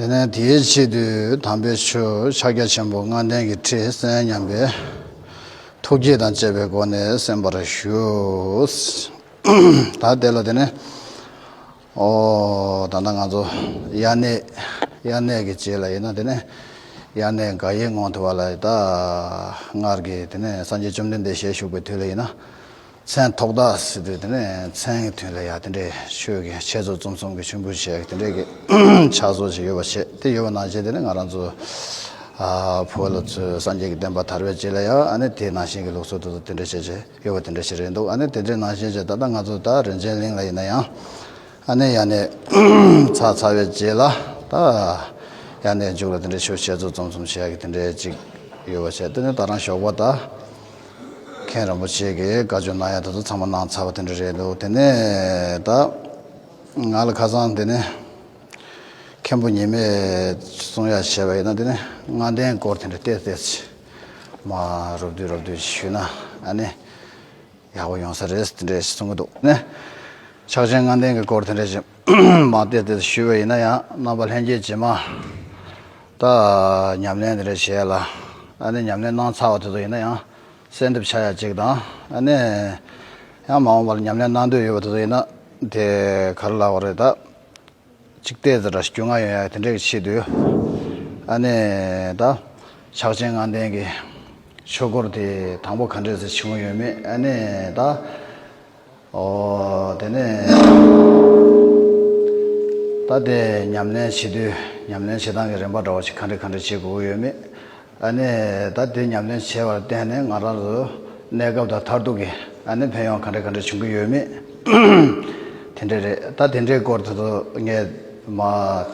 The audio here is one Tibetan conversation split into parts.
དེ་ནས་དེའི་ཕྱི་དུས་དམ་པའི་ཆོས་ཕྱག་རྒྱ་ཆེན་པོ་ལྔ་ལྡན་གྱི་ཁྲིད་གསན་སྙམ་པས། ཐུགས་བསྐྱེད་དང་བཅས་པའི་སྒོ་ནས་གསན་པར་ཞུ། ད་དེ་ལ་དེ་ནས། ཨོ། ད་ལྟ་ང་ཚོ་དབྱར་གནས། དབྱར་གནས་ཀྱི་རྗེས་ལ་ཡིན་ན་དེ་ནས། དབྱར་གནས་འགའ་ཡིག་རྔོག་ཐུབ་པ་ལ་ད། སྔར་གྱི་དེ་ནས་སངས་རྒྱས་བཅོམ་ལྡན་འདས་ཞལ་བཞུགས་པའི་དུས་ལ་ཡིན་ན། མཚན་ཐོག་ཐག་སྲིད་པའི་དེ་འདྲའི་མཚན་གྱི་དོན་ལ་ཡང་དེ་འདྲའི་ཆོས་ཀྱི་འཆད་རྩོད་རྩོམ་གསུམ་གྱི་མཆོད་འབུལ་བྱས་དེ་འདྲའི་གི་ཕྱག་བཟོ་བྱས་ཡོད་པ་བྱས་དེ་ཡོད་པ་ནང་བཞིན་དེ་ནི་ང་རང་ཚོ་བོད་ལོ་ཚོས་སངས་རྒྱས་ཀྱི་བསྟན་པ་དར་བའི་རྗེས་ལ་ཡང་ཨ་ནི་དེ་ནང་བཞིན་གྱི་ལུགས་སྲོལ་དེ་ཚོ་དེ་འདྲ་བྱས་བྱས་ཡོད་པ་དེ་འདྲ་ཞིག་རེད་འདུག་ཨ་ནི་དེ་འདྲའི་ནང་བཞིན་བྱས་ད་ལྟ་ང་ཚོ་ད་རིན་ཆེན་གླིང་ལ་ཡིན་ན་ཡང་ཨ་ནི་ཡང་ནས་ཚར་ཚར་བའི་རྗེས་ལ་ད་ཡང་ནས་མཇུག་ལ་དེ་འདྲའི་ཆོས་འཆད་རྩོད་རྩོམ་གསུམ་བྱས་གི་དེ་འདྲའི་ཅིག་ཡོད་པ་བྱས་དེ་ནི་ད་རང་ཞོགས་པ་ད། མཁན་རིན་པོ་ཆེ་གིས་བཀའ་བཅོ་གནང་ཡ་ད་དུ་ཚང་མ་གནང་ཚར་བ་དེ་འདྲ་རེད་འདུག་དེ་ནས་ད་ང་ལ་ཁ་སང་དེ་ནས་མཁན་པོ་ཉི་མས་གསུང་ཡ་བྱས་པ་ཡིན་ན་དེ་ནས་མངའ་སྡེའི་སྐོར་དེ་འདྲ་བལྟས་བལྟས་ཚེ་མ་རོབ་བསྡུས་རོབ་བསྡུས་ཞུས་ན་ཨ་ནི་ཡག་པོ་ཡོང་ས་རེད་དེ་འདྲ་གསུང་གི་འདུག་ནས་ཕྱག་ཆེན་མངའ་སྡེའི་སྐོར་དེ་འདྲ་བྱས་མ་སྟེ་དེ་ཞུས་པ་ཡིན་ན་ཡང་རྣམ་པ་ལྷན་སྐྱེས་ཇི་མ་ཏག་ཉམས་ལེན་དེ་རེ་བྱས་ལ་ཨ་ནི་ཉམས་ལེན་གནང་ཚར་བ་དེ་ཚོ་ཡིན་ན་ཡང་གསལ་འདེབས་བྱ་ཡ་གཅིག་དང་ཨ་ནི་ཡང་མ་འོངས་པར་ཉམས་ལེན་གནང་འདོད་ཡོད་པ་དེ་ཚོ་ཡིན་ན་དེ་ག་རེ་ལ་བ་རེད་ད་གཅིག་བལྟས་ཚེ་འདྲ་ཞིག་རྒྱུས་མངའ་ཡོད་ཡ་དེ་འདྲས་ཀྱི་ཆེད་དུ་ཨ་ནི་ད་ཕྱག་ཆེན་ལྔ་ལྡན་གྱི་ཆོས་སྐོར་དེ་དང་པོ་ག་འདྲས་ཚེ་ཆུང་ངུ་ཡོད་མེད་ཨ་ནི་ད། དེ་ནས་ད་ལྟའི་ཉམས་ལེན་བྱེད་དུས་ཉམས་ལེན་བྱེད་སྟངས་ཀྱི་རིམ་པ་འདྲ་བོ་ཞིག་གང་འདྲི་གང་འདྲི་བྱེད་དགོས་ཀྱི་ཡོད་མེད་ཨ་ནི་ད་ལྟའི་ཉམས་ལེན་བྱས་པར་བརྟེན་ནས་ང་རང་ཚོ་གནས་སྐབས་དང་མཐར་ཐུག་གི་ཨ་ནི་ཕན་ཡོང་གང་འདྲི་གང་འདྲི་བྱུང་གི་ཡོད་མེད་དེ་འདྲ་རེད་ད་དེ་འདྲའི་སྐོར་དེ་ཚོ་ངས་མ་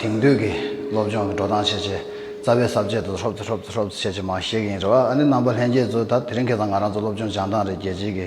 དེང་དུས་ཀྱི་སློབ་སྦྱོང་གི་འགྲོ་སྟངས་བྱེད་ཆེད་རྩ་བའི་གསར་བརྗེ་དེ་ཧྲོབ་ཏུ་ཧྲོབ་ཏུ་ཧྲོབ་ཏུ་བྱེད་ཆེད་མ་བཤད་ཀྱི་ཡིན་རེད་བ་ཨ་ནི་རྣམ་པ་ལྷན་རྒྱས་ཚོ་ད་དེ་རིང་ཁེ་བཟང་ང་རང་ཚོ་སློབ་སྦྱོང་སྦྱང་སྟངས་རེད་རྒྱལ་སྤྱིའི་གི།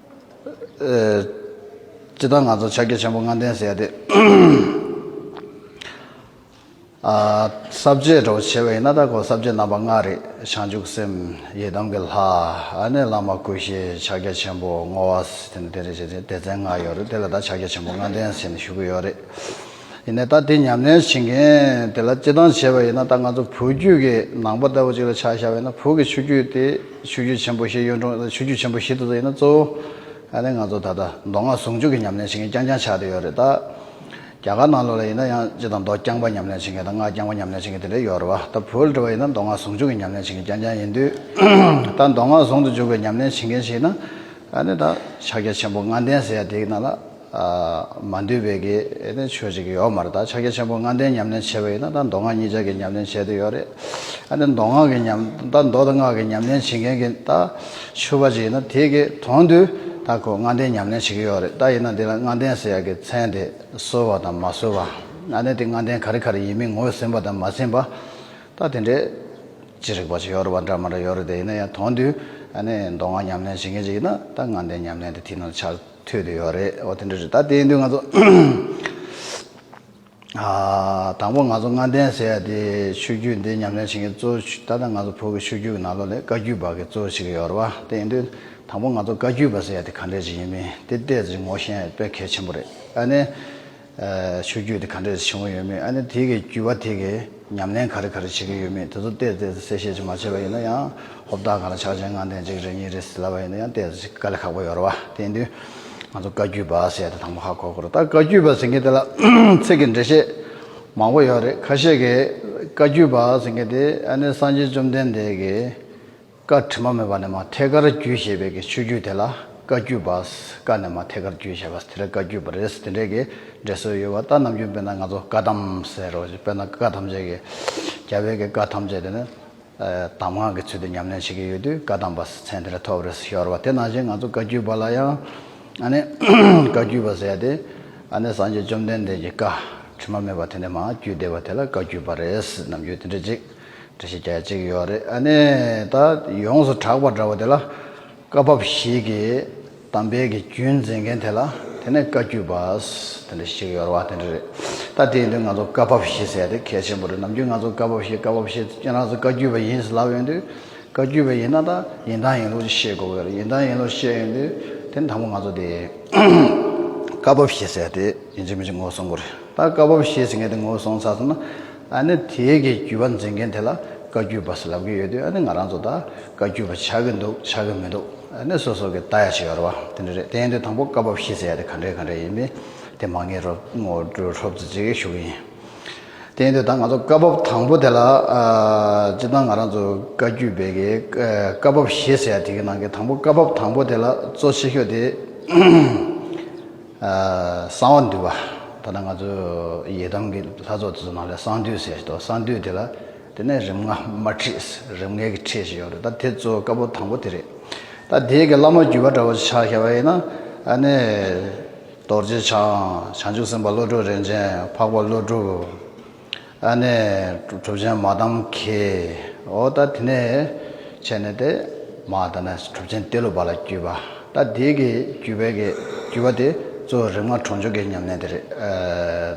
སྤྱི་བཏང་ང་ཚོར་ཕྱག་རྒྱ་ཆེན་པོ་ལྔ་ལྡན་ཟེར་ཏེ། ཟབ་རྒྱས་གྲོགས་པོ་ཆེ་བ་ཡིན་ན་ད་གོ་ཟབ་རྒྱས་རྣམ་པ་ལྔ་རེད་བྱང་ཆུབ་སེམས་ཡེ་གདངས་ཀྱི་ལྷ། ཨ་ནེ་བླ་མ་ཀུ་ཤའི་ཕྱག་རྒྱ་ཆེན་པོ་བསྔོ་བ། དེ་ནས་དེ་རེ་བྱས་ཏེ་སྡེ་ཚན་ལྔ་ཡོད་རེད་དེ་ལ་ད་ཕྱག་རྒྱ་ཆེན་པོ་ལྔ་ལྡན་ཟེར་ནས་ཞུ་གི་ཡོད་རེད། ཡིན་ནས་ད་དེ་ཉམས་ལེན་བྱེད་མཁན་དེ་ལ་སྤྱི་བཏང་བྱས་པ་ཡིན་ན་ད་ང་ཚོ་བུ་རྒྱུད་ཀྱི་ནང་པ་ལྟ་བུ་ཅིག་ལ་ཆགས་བཞག་ཡོད་ན་བུ་གི་ཆུ་རྒྱུད་དེ་ཆུ་རྒྱུད་ཆེན་པོ་བཞི་གཡུང་དྲུང་ཆུ་རྒྱུད་ཆེན་པོ་བཞི་དེ་ཚོ་ཡིན་ན་གཙོ་བོ་ང་ཚོ་ད་ལྟ་མདོ་སྔགས་ཟུང་འཇུག་གི་ཉམས་ལེན་བྱེད་མཁན་རྐྱང་རྐྱང་ཆགས་དེ་ཡོད་རེད་ད། རྒྱ་གར་ནང་ལོགས་ལ་ཡིན་ན་ཡང་སྤྱི་དང་མདོ་རྐྱང་པ་ཉམས་ལེན་བྱེད་མཁན་དང་སྔགས་རྐྱང་པ་ཉམས་ལེན་བྱེད་མཁན་དེ་འདྲ་ཡོད་རེད་བ་ད་བུ་ལ་དྲི་བ་ཡིན་ན་མདོ་སྔགས་ཟུང་འཇུག་གི་ཉམས་ལེན་བྱེད་མཁན་རྐྱང་རྐྱང་ཡིན་དུས་ད་མདོ་སྔགས་ཟུང་དུ་འཇུག་པའི་ཉམས་ལེན་བྱེད་མཁན་ཞིག་ཡིན་ན་ད་ནི་ད་ཕྱག་རྒྱ་ཆེན་པོ་ལྔ་ལྡན་ཟེར་ཡ་དེ་ཡི་ནང་ལ། མ་འདུས་པའི་གེ་ནི་ཆོས་གཅིག་གི་ཡོད་མ་རེད་ད་ཕྱག་རྒྱ་ཆེན་པོ་ལྔ་ལྡན་ཉམས་ལེན་བྱེད་པ་ཡིན་ན་ད་མདོ་སྔགས་གཉིས་ཆ་གི་ཉམས་ལེན་བྱེད་དུ་ཡོད་རེད་ཨ་ནི་མདོ་སྔགས་ཀྱི་ཉམས་ད་མདོ་དང་སྔགས་ཀྱི་ཉམས་ལེན་བྱེད་མཁན་གྱི་ད་ཆོས་པ་ཅིག་ཡིན་ན་དེ་གི་དོན་དུ་ད་ཁོ་ལྔ་ལྡན་ཉམས་ལེན་བྱེད་ཀྱི་ཡོད་རེད་ད་ཡིན་ན་འདི་ལ་ལྔ་ལྡན་ཟེར་ཡག་གི་མཚན་དེ་གསོལ་བ་དང་མ་གསོལ་བ་ཨ་ནི་དེ་ལྔ་ལྡན་ག་རེ་ག་རེ་ཡིན་མིན་ངོས་ཟིན་པ་དང་མ་ཟིན་པ་ད་དེ་འདྲའི་ཅི་རིགས་པ་ཅིག་ཡོད་རེད་པ་འདྲ་མ་འདྲ་ཡོད་རེད་དེ་ཡིན་ན་ཡང་དོན་དུ་ཨ་ནི་མདོ་སྔགས་ཉམས་ལེན་བྱེད་མཁན་ཅིག་ཡིན་ན་ད་ལྔ་ལྡན་ཉམས་ལེན་དེ་དེ་ན་ཆགས། ཐོས་དེ་ཡོད་རེད་ཨོ་དེ་འདྲ་རེད་ད་དེ་ཡིན་དུས་ང་ཚོ་དང་པོ་ང་ཚོ་ལྔ་ལྡན་ཟེར་ཡ་དེ་ཆོས་རྒྱུད་འདི་ཉམས་ལེན་བྱེད་མཁན་གཙོ་ད་ལྟ་ང་ཚོ་བོད་ཀྱི་ཆོས་རྒྱུད་ཀྱི་ནང་ལོག་ལས་བཀའ་རྒྱུད་བར་གྱི་གཙོ་ཞིག་ཡོད་རེད་བ་དེ་ཡིན་དུས་དང་པོ་ང་ཚོ་བཀའ་རྒྱུད་པ་ཟེར་ཡ་དེ་ག་འདྲས་ཅིག་ཡིན་མིན་དེ་བལྟས་ཚེ་ངོ་ཤེས་ན་དཔེ་གལ་ཆེན་པོ་རེད་ཨ་ནི། ཆོས་བརྒྱུད་དེ་ག་འདྲས་བྱུང་ཡོད་མེད་ཨ་ནི་དེ་གའི་བརྒྱུད་པ་དེ་གའི་ཉམས་ལེན་ག་རེ་ག་རེ་བྱེད་ཀྱི་ཡོད་མེད་དེ་ཚོ་བལྟས་བལྟས་སུ་གསལ་བཤད་ཅིག་མ་བྱས་པ་ཡིན་ན་ཡང་ཧོབ་ལྟ་ག་ལ་ཆགས་ཆེན་ངང་དེ་འཇིག་རེ་ཉིན་རེ་ཟེར་ལབ་པ་ཡིན་ན་ཡང་བལྟས་སུ་དཀའ་ལས་ཁག་པོ་ཡོད་རེད་བ་དེ་དུས་ང་ཚོ་བཀའ་བརྒྱུད་པ་ཟེར་ཏེ་དང་པོ་ཧ་གོ་གོ་རེད་ད་བཀའ་བརྒྱུད་པ་ཟེར་མཁན་དེ་ལ་ཚིག་གི་འགྲེལ་བཤད་མང་པོ་ཡོད་རེད་ཁ་ཤས་ཀྱིས་བཀའ་བརྒྱུད་པ་ཟེར་མཁན་དེ་ཨ་ནི་སངས་རྒྱས་བཅོམ་ལྡན་འདས་ཀྱི། བཀའ་དྲི་མ་མེད་པ་ནས་མ་ཐད་ཀར་རྒྱུད་ཞེས་པའི་གི་ཆོས་བརྒྱུད་དེ་ལ་བཀའ་བརྒྱུད་པ། བཀའ་ནས་མ་ཐད་ཀར་རྒྱུད་ཞེས་པ་དེ་ལ་བཀའ་བརྒྱུད་པ་རེད་དེ་འདྲའི་གི་འབྲེལ་སྲོལ་ཡོད་བ་ལྟར་ནམ་རྒྱུན་དཔེར་ན་ང་ཚོ་བཀའ་གདམ་ཟེར་རོ་ཞེས་དཔེར་ན་བཀའ་ཐམས་ཅད་གི། རྒྱ་བོད་ཀྱི་བཀའ་ཐམས་ཅད་དེ་ནི། གདམ་ངག་གི་ཚུལ་དུ་ཉམས་ལེན་བྱེད་ཀྱི་ཡོད་དུས་བཀའ་གདམ་པ་ཟེར་མཚན་དེ་ལས་ཐོབ་རེད་ཤོར་བ་དེ་ནང་བཞིན་ང་ཚོ་བཀའ་བརྒྱུད་པ་ལ་ཡང། ཨ་ནི། བཀའ་བརྒྱུད་པ་ཟེར་ཏེ། ཨ་ནི་སངས་རྒྱས་བཅོམ་ལྡན་འདས་ཀྱི་བཀའ་དྲི་མ་མེད་པ་དེ་ནས་མ་བརྒྱུད་བསྡད་པ་དེ་ལ་བཀའ་བརྒྱུད་པ་རེད་ནམ་རྒྱུན་དེ་འདྲའི་ཅིག་འདྲ་ཞིག་རྒྱ་ཅིག་ཡོད་རེད་ཨ་ནི་ད་ཡོངས་སུ་གྲགས་པ་འདྲ་བོ་དེ་ལ། སྐབས་བབ་ཞིག་གི་གཏམ་དཔེ་གི་རྒྱུན་འཛིན་མཁན་དེ་ལ་དེ་ནས་བཀའ་བརྒྱུད་པ་དེ་འདྲ་ཞིག་ཡོད་རེད་བ་དེ་འདྲ་རེད། ད་དེའི་དུས་ང་ཚོ་བཀའ་བབ་བཞི་ཟེར་དེ་གལ་ཆེན་པོ་རེད་ནམ་རྒྱུན་ང་ཚོ་བཀའ་བབ་བཞི་བཀའ་བབ་བཞི་ཁྱེད་རང་ཚོ་བཀའ་བརྒྱུད་པ་ཡིན་ཟེར་ལབ་ཡོང་དུས། བཀའ་བརྒྱུད་པ་ཡིན་ན་ད་ཡིན་དང་ཡིན་ལུགས་ཅིག་ཤེས་དགོས་གི་རེད་ཡིན་དང་ཡིན་ལུགས་ཤེས་ཡོང་དུས་དེ་ནི་དང་པོ་ང་ཚོ་དེ། བཀའ་བབ་བཞི་ཟེར་དེ་ཡིན་གཅིག་མིན་གཅིག་ངོ་སོང་གི་རེད་ད་བཀའ་བབ་བཞི་ཟེར་མཁན་དེ་ངོ་སོང་ཚར་སོང་ན། ཨ་ནི་དེའི་གི་རྒྱུད་པ་འཛིན་མཁན་དེ་ལ་བཀའ་རྒྱུད་པ་ཟེར་ལབ་ཀྱི་ཡོད་དུས་ཨ་ནི་ང་རང་ཚོ་ད་བཀའ་རྒྱུད་པ་ཆགས་ཀྱི་འདུག་ཆགས་ཀྱི་མི་འདུག་ཨ་ནི་སོ་སོ་གི་ད་ཡ་ཆེ་ཡོད་ར་བ་དེ་འདྲ་རེད་དེ་ཡིན་དུས་དང་པོ་བཀའ་བབས་ཤེས་ཟེར་ཡ་དེ་ག་འདྲའི་ག་འདྲའི་ཡིན་མིན་དེ་མ་ངེས་རོགས་ངོ་སྤྲོད་ཧྲོབ་ཙི་ཙི་ཞུ་གི་ཡིན། དེ་ཡིན་དུས་ད་ང་ཚོ་བཀའ་བབས་དང་པོ་དེ་ལ་སྤྱིར་བཏང་ང་རང་ཚོ་བཀའ་རྒྱུད་པའི་གི་བཀའ་བབས་ཤེས་ཟེར་ཡ་དེ་གི་ནང་གི་དང་པོ་བཀའ་བབས་དང་པོ་དེ་ལ་གཙོ་ཆེ་ཤོས་དེ། གསང་བ་འདུས་པ། ད་ལྟ་ང་ཚོའི་ཡི་དམ་གྱི་ལྷ་ཚོགས་དེ་ཚོ་ནང་ལས་གསང་འདུས་ཟེར་ཏོ་གསང་འདུས་དེ་ལ་དེ་ནས་རིམ་ལྔ་མ་ཁྲིད་རིམ་ལྔའི་གི་ཁྲིད་ཞེས་ཡོང་རེད་ད་དེ་ཚོ་དཀར་པོ་དང་པོ་དེ་རེད་ད་དེའི་གི་བླ་མ་བརྒྱུད་པ་འདྲ་བོ་ཆགས་ཤ་བ་ཡིན་ན་ཨ་ནི་རྡོ་རྗེ་འཆང་བྱང་ཆུབ་སེམས་དཔའ་བློ་གྲོས་རིན་ཆེན་འཕགས་པ་ཀླུ་སྒྲུབ། ཨ་ནེ། གྲུབ་ཆེན་མ་དམ་མཁའི་འོ་ད་དེ་ནས་བྱས་ནས་ཏེ། མ་ད་ནས་གྲུབ་ཆེན་ཏེ་ལོ་པ་ལ་བརྒྱུད་པ། ད་དེའི་གི་བརྒྱུད་པའི་གི་བརྒྱུད་པ་དེ་གཙོ་བོ་རིག་མ་གྲོང་ཆོག་གི་ཉམས་ལེན་དེ་རེད།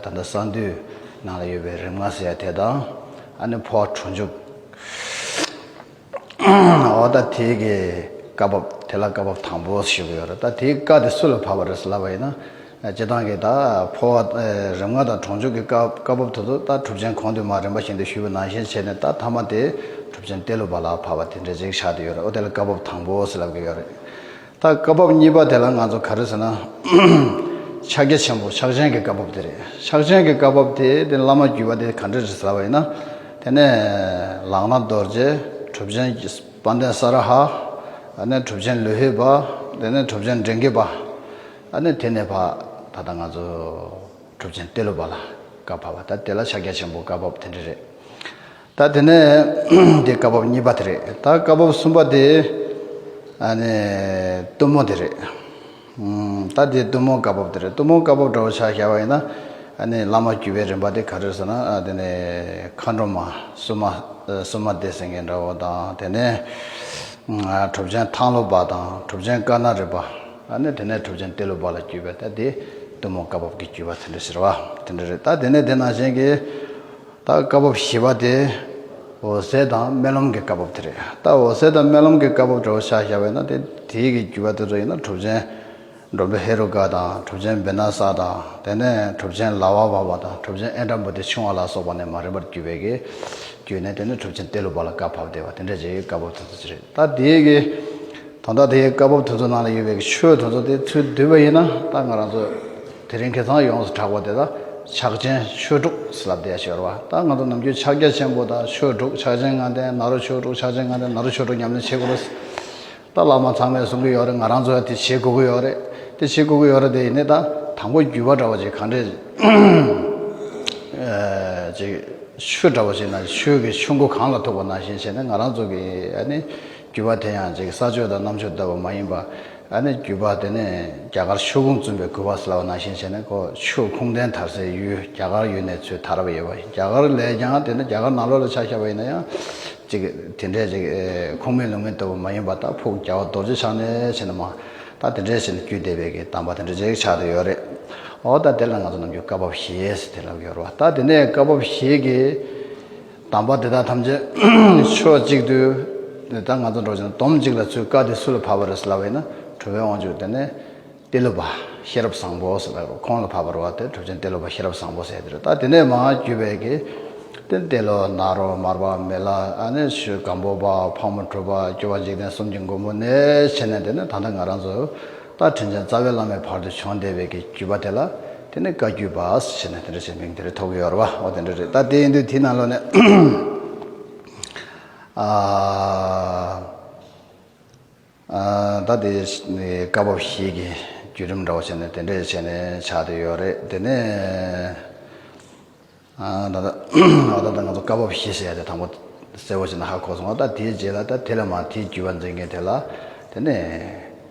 ད་ལྟ་གསང་འདུས་ནང་ལ་ཡོད་པའི་རིག་མ་ཟེར་ཡ་དེ་དང། ཨ་ནེ་འཕོ་བ་གྲོང་ཆོག། འོ་ད་དེའི་གི་བཀའ་བབ་དེ་ལ་བཀའ་བབ་དང་པོ་ཞིག་ཡོད་རེད་ད་དེའི་བཀའ་དེ་སུ་ལ་ཕབ་པ་རེད་ལབ་པ་ཡིན་ན་སྤྱི་བཏང་གི་ད་ཕོ་བ་རིམ་ལྔ་དང་གྲོང་འཇུག་གི་བཀའ་བཀའ་བབ་དེ་ཚོ་ད་གྲུབ་ཆེན་གོང་དུ་མ་རིམ་པ་བཞིན་དུ་ཞུས་པ་ནང་བཞིན་བྱས་ནས་ད་ཐ་མ་དེ་གྲུབ་ཆེན་གཏེར་ལུགས་པ་ལ་ཕབ་པ་དེ་འདྲས་ཅིག་ཆགས་དེ་ཡོད་རེད་འོ་དེ་ལ་བཀའ་བབ་དང་པོ་ཞིག་ལབ་གི་ཡོད་རེད། ད་སྐབས་བབ་གཉིས་པ་དེ་ལ་ང་ཚོ་ག་རེ་ཟེར་ན། ཕྱག་རྒྱ་ཆེན་པོ་ཕྱག་ཆེན་གྱི་བཀའ་བབ་དེ་རེད། ཕྱག་ཆེན་གྱི་བཀའ་བབ་དེ་དེ་བླ་མ་བརྒྱུད་པ་དེ་ག་འདྲ་རེད་ཟེར་བ་ཡིན་ན། དེ་ནས་ལག་ན་རྡོ་རྗེ་གྲུབ་ཆེན་དཔལ་ལྡན་ས་ར་ཧ། ཨ་ནས་གྲུབ་ཆེན་ལོ་ཧི་བ། དེ་ནས་གྲུབ་ཆེན་འབྲིང་གི་བ། ཨ་ནས་དེ་ནས་བ། ད་ལྟ་ང་ཚོ་གྲུབ་ཆེན་ཏེ་ལོ་བ་ལ་བཀའ་བབ་བ་ད་དེ་ལ་ཕྱག་རྒྱ་ཆེན་པོ་བཀའ་བབ་དེ་འདྲ་རེད། ད་དེ་ནས་འདི་བཀའ་བབས་གཉིས་པ་དེ་རེད་ད་བཀའ་བབས་གསུམ་པ་དེ་ཨ་ནི་གཏུམ་མོ་དེ་རེད། ད་འདི་གཏུམ་མོ་བཀའ་བབས་དེ་རེད་གཏུམ་མོ་བཀའ་བབས་འདྲ་བོ་ཆགས་ཤར་བ་ཡིན་ན་ཨ་ནི་བླ་མ་བརྒྱུད་པའི་རིམ་པ་དེ་ག་རེད་ཟེར་ན་དེ་ནི་མཁའ་འགྲོ་མ་སུ་མ་སུ་མ་སྡེ་ཟེར་མཁན་འདྲ་བོ་དང་དེ་ནས་གྲུབ་ཆེན་ཐང་ལོ་པ་དང་གྲུབ་ཆེན་དཀར་ནག་རི་པ་ཨ་ནི་དེ་ནས་གྲུབ་ཆེན་ཏེ་ལོ་པ་ལ་བརྒྱུད་པའི་ད་འདི་གཏུམ་མོ་བཀའ་བབས་ཀྱི་བརྒྱུད་པ་དེ་འདྲ་ཟེར་བ་དེ་འདྲ་རེད་ད་དེ་ནས་དེ་ནང་བཞིན་གྱི་ད་སྐབས་བབ་བཞི་པ་དེ་འོད་གསལ་དང་རྨི་ལམ་གྱི་སྐབས་བབ་དེ་རེད། ད་འོད་གསལ་དང་རྨི་ལམ་གྱི་སྐབས་བབ་བྲོ་བ་ཤ་ཤ་བས་ན་དེ་དེའི་གི་རྒྱུད་པ་དེ་ཚོ་ཡིན་ན་གྲུབ་ཆེན་འགྲོ་འདྲུ་ཧེ་རུ་ཀ་དང་གྲུབ་ཆེན་བི་ན་ས་དང་དེ་ནས་གྲུབ་ཆེན་ལ་བ་བ་བ་དང་གྲུབ་ཆེན་ཨེ་དྲ་འབུ་ཏི་ཆུང་བ་ལ་སོགས་པ་ནས་མ་རིག་པར་བརྒྱུད་པའི་གི་རྒྱུད་ནས་དེ་ནས་གྲུབ་ཆེན་ཏེ་ལུ་བ་ལ་སྐབས་བབ་དེ་བ་དེ་འདྲ་བྱས་གི་སྐབས་བབ་དེ་ཚོ་དེ་རེད། ད་དེའི་གི་དོན་དག་དེའི་སྐབས་བབ་དེ་ཚོ་ནང་ལ་ཡོད་པའི་གི་ཆོས་དེ་ཚོ་དེ་ཚུལ་བསྡུས་པ་ཡིན་ན་ད་ང་རང་ཚོ་དེ་རིང་ཁྱེད་ཚང་ཡོངས་སུ་གྲགས་པ་དེ་དག་ཕྱག་ཆེན་ཆོས་དྲུག་ཟེར་ལབ་བསྡད་ཤོར་བ་ད་ང་ཚོ་ནམ་རྒྱུན་ཕྱག་རྒྱ་ཆེན་པོ་དང་ཆོས་དྲུག་ཕྱག་ཆེན་ལྔ་ལྡན་ནཱ་རོ་ཆོས་དྲུག་ཕྱག་ཆེན་ལྔ་ལྡན་ནཱ་རོ་ཆོས་དྲུག་ཉམས་ལེན་བྱེད་དགོས་རེད་ཟེར་ད་བླ་མ་ཚང་མས་གསུང་གི་ཡོད་རེད་ང་རང་ཚོ་ཡང་དེ་བྱེད་དགོས་ཀྱི་ཡོད་རེད་དེ་བྱེད་དགོས་ཀྱི་ཡོད་རེད་དེ་ཡིན་ནས་ད་དང་པོ་རྒྱུས་པ་འདྲ་བ་ཅིག་གང་དྲན་ཅིག་ཆོས་འདྲ་བ་ཞིག་ན་ཆོས་ཀྱི་ཆུ་མགོ་གང་ལ་ཐུག་པ་ནང་བཞིན་བྱས་ནས་ང་རང་ཚོ་གི་ཨ་ནི། རྒྱུད་པ་དེ་ཡང་ཅིག་ས་ཆོས་དང་གནམ་ཆོས་ལྟ་བུ་མ་ཡིན་པ། ཨ་ནི་རྒྱུད་པ་དེ་ནི་རྒྱ་གར་ཆོས་ཁུངས་བཙུན་པའི་གུས་པ་སླ་བ་ནང་བཞིན་བྱས་ནས་ཁོ་ཆོས་ཁུངས་ལྡན་དར་སའི་ཡུལ་རྒྱ་གར་ཡུལ་ནས་ཚུད་དར་བ་ཡོད་པ་ཡིན་རྒྱ་གར་ལས་ཀྱང་དེ་ནི་རྒྱ་གར་ནང་ལོགས་ལ་ཆགས་ཤར་བ་ཡིན་ན་ཡང། ཅིག་དེ་འདྲའི་ཅིག་ཁུངས་མེད་ལུང་མེད་ལྟ་བུ་མ་ཡིན་པ་ད་ཕུག་རྒྱལ་བ་རྡོ་རྗེ་འཆང་ནས་བྱས་ནས་མ་ད་དེ་འདྲའི་ཆེ་ནི་རྒྱུད་སྡེ་བས་ཀྱི་གདམས་པ་དེ་འདྲ་ཅིག་ཆགས་དུ་ཡོད་རེད། འོ་ད་དེ་ལ་ང་ཚོ་ནམ་རྒྱུན་བཀའ་བབས་ཞེས་དེ་ལབ་ཡོད་རེད་བ་ད་དེ་ནས་བཀའ་བབས་ཞེས་ཀྱི། དམ་པ་དེ་དག་ཐམས་ཅད་ཕྱོགས་གཅིག་ཏུ། འདི་ལྟར་ང་ཚོ་འགྲོ་ཞིང་འདོམ་གཅིག་ལ་ཚུལ་དཀའ་སྟེ་སུ་ལ་བབ་པར་སླ་བས་ན་གྲུབ་བའི་དབང་ཕྱུག་དེ་ནི། ཏེ་ལོ་པ་ཤེས་རབ་བཟང་པོ་ཟེར་བས་ཁོང་ལ་བབ་པར་བ་དེ་གྲུབ་ཅིང་ཏེ་ལོ་པ་ཤེས་རབ་བཟང་པོ་ཟེར་དེར་ལྟ་དེ་ནས་མ་བརྒྱུད་པའི་གེ། ཏེ་ཏེ་ལོ་ནཱ་རོ་མར་པ་མེ་ལ་ཨ་ནི་ཤུ་སྒམ་པོ་པ་ཕག་མོ་གྲུ་པ་སྐྱོ་བ་འཇིག་རྟེན་གསུམ་གྱི་མགོན་པོ་ནས་ཕྱེ་ནས་དེ་ནི་ད་ལྟ་ང་རང་ཚོ། རྟ་དྲེལ་ཅན་རྩ་བའི་བླ་མའི་བར་དུ་བྱོན་བདེ་བས་ཀྱི་བརྒྱུད་པ་དེ་ལ་དེ་ནི་བཀའ་བརྒྱུད་པ་ཞེས་ནས་དེ་འདྲ་བྱས་མིང་དེ་རེ་ཐོགས་ཡོད་ར་བ་འོ་དེ་འདྲ་རེད་ད་དེ་ཡིན་དུས་དེའི་ནང་ལོགས་ནས་ད་དེ་བཀའ་བབས་ཤིག་གི་བརྒྱུད་རིམ་འདྲ་བོ་བྱས་ནས་དེ་འདྲ་བྱས་ནས་ཆགས་དེ་ཡོད་རེད་དེ་ནས། ད་ལྟ་ང་ཚོ་སྐབས་བབ་ཤེས་ཟེར་ཡ་དེ་དང་པོ་གསལ་བོ་ཞིག་ན་ཧ་གོ་སོང་ང་ད་དེའི་རྗེས་ལ་ད་དེ་ལས་མང་དེའི་རྒྱུས་པ་འཛིན་མཁན་དེ་ལ་དེ་ནས་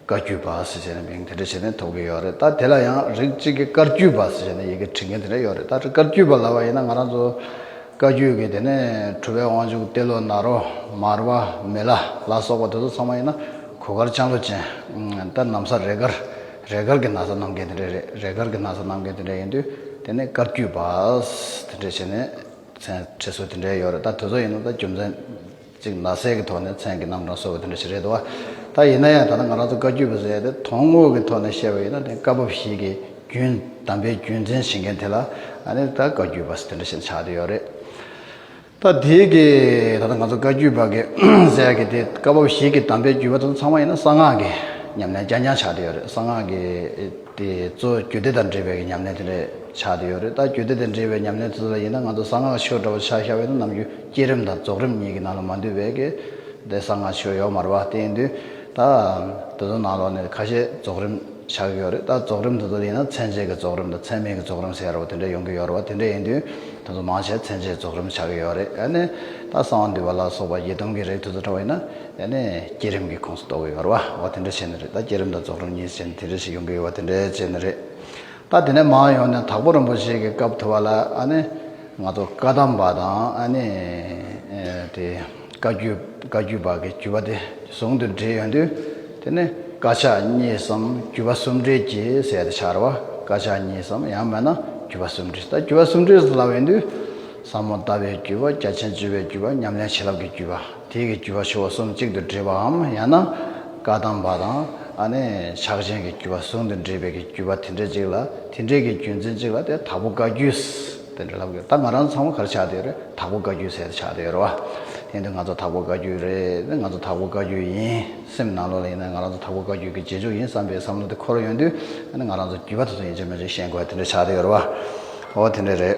བཀའ་རྒྱུད་པ་ཟེར་བྱས་ན་མིང་དེ་འདྲ་བྱས་ནས་ཐོབ་ཀྱི་ཡོད་རེད་ད་དེ་ལ་ཡང་རིགས་གཅིག་གི་བཀའ་རྒྱུད་པ་ཟེར་བྱས་ནས་ཡི་གེ་བྲི་མཁན་དེ་འདྲ་ཡོད་རེད་ད་བཀའ་རྒྱུད་པ་ལབ་པ་ཡིན་ན་ང་རང་ཚོ་བཀའ་རྒྱུད་ཀྱི་དེ་ནས་གྲུབ་པའི་དབང་ཕྱུག་ཏེ་ལོ་ནཱ་རོ་མར་བ་མེ་ལ་ལ་སོགས་པ་དེ་ཚོ་ཚང་མ་ཡིན་ན་གོ་དཀར་ལྕང་ལོ་ཅན་ད་ནམ་ས་རེད་དཀར། རས་དཀར་གྱི་ན་བཟའ་གནང་མཁན་དེ་འདྲ་རེད། རས་དཀར་གྱི་ན་བཟའ་གནང་མཁན་དེ་འདྲ་ཡིན་དུས་དེ་ནས་བཀའ་བརྒྱུད་པ། དེ་འདྲ་བྱས་ནས་མཚན་བྲིས་སྲོལ་དེ་འདྲ་ཡོད་རེད་ད་དོལ་ཚོགས་ཡིན་ན་ད་རྒྱུ་མཚན་གཅིག་ན་བཟས་ཀྱི་ཐོག་ནས་མཚན་གྱི་རྣམ་གྲངས་གསོལ་བ་དེ་འདྲ་ཞིག་རེད་དོ། ད་ཡིན་ན་ཡང་ད་ནི་ང་རང་ཚོ་བཀའ་བརྒྱུད་པ་ཟེར་ཏེ་དོན་དངོས་ཀྱི་ཐོག་ནས་བཤད་པ་ཡིན་ན་དེ་བཀའ་བབས་ཤིག་གི་རྒྱུན་དམ་པའི་རྒྱུ་མཚན་བྱེད་མཁན་དེ་ལ་ཨ་ནི་ད་བཀའ་བརྒྱུད་པ་དེ་འདྲ་ཞིག་ཆགས་ཏེ་ཡོད་རེད། ད་དེ་གི་ད་ང་ཚོ་བཀའ་བརྒྱུད་པ་གི་གསལ་གི་དེ་སྐབས་བབ་ཞིག་གི་དམ་པའི་བརྒྱུད་པ་ཚོ་ཚང་མ་ཡིན་ན་གསང་སྔགས་ཀྱི་ཉམས་ལེན་རྐྱང་རྐྱང་ཆགས་ཏེ་ཡོད་རེད་གསང་སྔགས་ཀྱི་དེ་གཙོ་བརྒྱུད་སྡེ་དང་འབྲེལ་བའི་གི་ཉམས་ལེན་དེ་རེད་ཆགས་ཏེ་ཡོད་རེད་ད་བརྒྱུད་སྡེ་དང་འབྲེལ་བའི་ཉམས་ལེན་ཚོ་ཚོ་ཡིན་ན་ང་ཚོ་གསང་སྔགས་ཆོས་འདྲ་བོ་ཆགས་ཤར་བས་ན་ནམ་རྒྱུན་བསྐྱེད་རིམ་དང་རྫོགས་རིམ་གཉིས་གི་ནང་ལ་མ་འདུས་པས་གི་དེ་གསང་སྔགས་ཆོས་ཡོག་མར་བ་དེ་ཡིན་དུས་ད་དེ་ཚོ་ནང་ལོགས་ནས་ཁ་ཤས་རྫོགས་རིམ། ཆགས་ཡོད་རེད་ད་རྫོགས་རིམ་དེ་ཚོ་ཡིན་ན་ཚན་ཆེད་ཀྱི་རྫོགས་རིམ་དང་ཚན་མེད་ཀྱི་རྫོགས་རིམ་ཟེར་ཡོད་པ་དེ་འདྲ་ཡོང་གི་ཡོད་རེད་བ་དེ་འདྲ་ཡིན་དུས་དེ་ཚོ་མང་ཆེ་ཚན་ཆེད་རྫོགས་རིམ་ཆགས་ཀྱི་ཡོད་རེད་ཡ་ནི་ད་གསང་བ་འདུས་པ་ལ་སོགས་པ་བརྒྱད་སྟོང་གི་རིགས་དེ་ཚོ་འདྲ་བ་ཡིན་ན་ཡ་ནི་བསྐྱེད་རིམ་གྱི་ཁོངས་སུ་གཏོགས་གི་ཡོད་རེད་བ་བ་དེ་འདྲ་བྱས་ནི་རེད་ད་བསྐྱེད་རིམ་དང་རྫོགས་རིམ་གཉིས་བྱས་ནི་དེ་འདྲ་ཞིག་ཡོང་གི་ཡོད་བ་དེ་འདྲ་བྱས་ནི་རེད་ད་དེ་ནས་མང་ཡོང་ནི་དྭགས་པོ་རིན་པོ་ཆེ་གི་སྐབས་དུ་བ་ལ་ཡ་ནི་ང་ཚོ་བཀའ་གདམས་པ་དང་ཡ་ནི་དེ། བཀའ་བརྒྱུད་བཀའ་བརྒྱུད་བར་གྱི་བརྒྱུད་པ་དེ་ཟུང་དུ་འབྲེལ་ཡོད་དུས་དེ་ནི་བཀའ་ཕྱག་གཉིས་སམ་བརྒྱུད་པ་སུམ་འབྲེལ་གྱི་གསལ་དུ་འཆར་བ་བཀའ་ཕྱག་གཉིས་སམ་ཡང་མེད་ན་བརྒྱུད་པ་སུམ་འབྲེལ་ད་བརྒྱུད་པ་སུམ་འབྲེལ་ལ་བས་དུས་ཟབ་མོ་ལྟ་བའི་བརྒྱུད་པ་རྒྱ་ཆེན་བརྗོད་པའི་བརྒྱུད་པ་ཉམས་ལེན་བྱིན་རླབས་ཀྱི་བརྒྱུད་པ་དེ་གི་བརྒྱུད་པ་ཆུ་བོ་གསུམ་གཅིག་ཏུ་འདྲེས་པའམ་ཡང་ན་བཀའ་གདམས་པ་དང་ཨ་ནི་ཕྱག་ཆེན་གྱི་བརྒྱུད་པ་ཟུང་དུ་འབྲེལ་བའི་གི་བརྒྱུད་པ་དེ་འདྲ་གཅིག་ལ་དེ་འདྲའི་གི་བརྒྱུད་འཛིན་གཅིག་ལ་དེ་དག་པོ་བཀའ་བརྒྱུད། དེ་འདྲ་ལབ་དགོས་ད་ང་རང་ཚང་མ་གར་ཆགས་དེར་དྭགས་པོ་བཀའ་རྒྱུད་ཟེར་ཆགས་དེ་ཡོད་རེད་བ། དེ་འདྲ་ང་ཚོ་དྭགས་པོ་བཀའ་རྒྱུད་རེད་ང་ཚོ་དྭགས་པོ་བཀའ་རྒྱུད་ཡིན་སེམས་ནང་ལོག་ལ་ཡིན་ན་ང་རང་ཚོ་དྭགས་པོ་བཀའ་རྒྱུད་ཀྱི་རྗེས་འཇུག་ཡིན་བསམ་པའི་བསམ་བློ་དེ་འཁོར་ཡོང་དུས་ང་རང་ཚོ་རྒྱུད་པ་དེ་ཚོ་ཡིན་གཅིག་མིན་གཅིག་ཤེས་དགོས་བ་དེ་འདྲ་ཆགས་དེ་ཡོད་རེད་བ། ཨོ་དེ་འདྲ་རེད།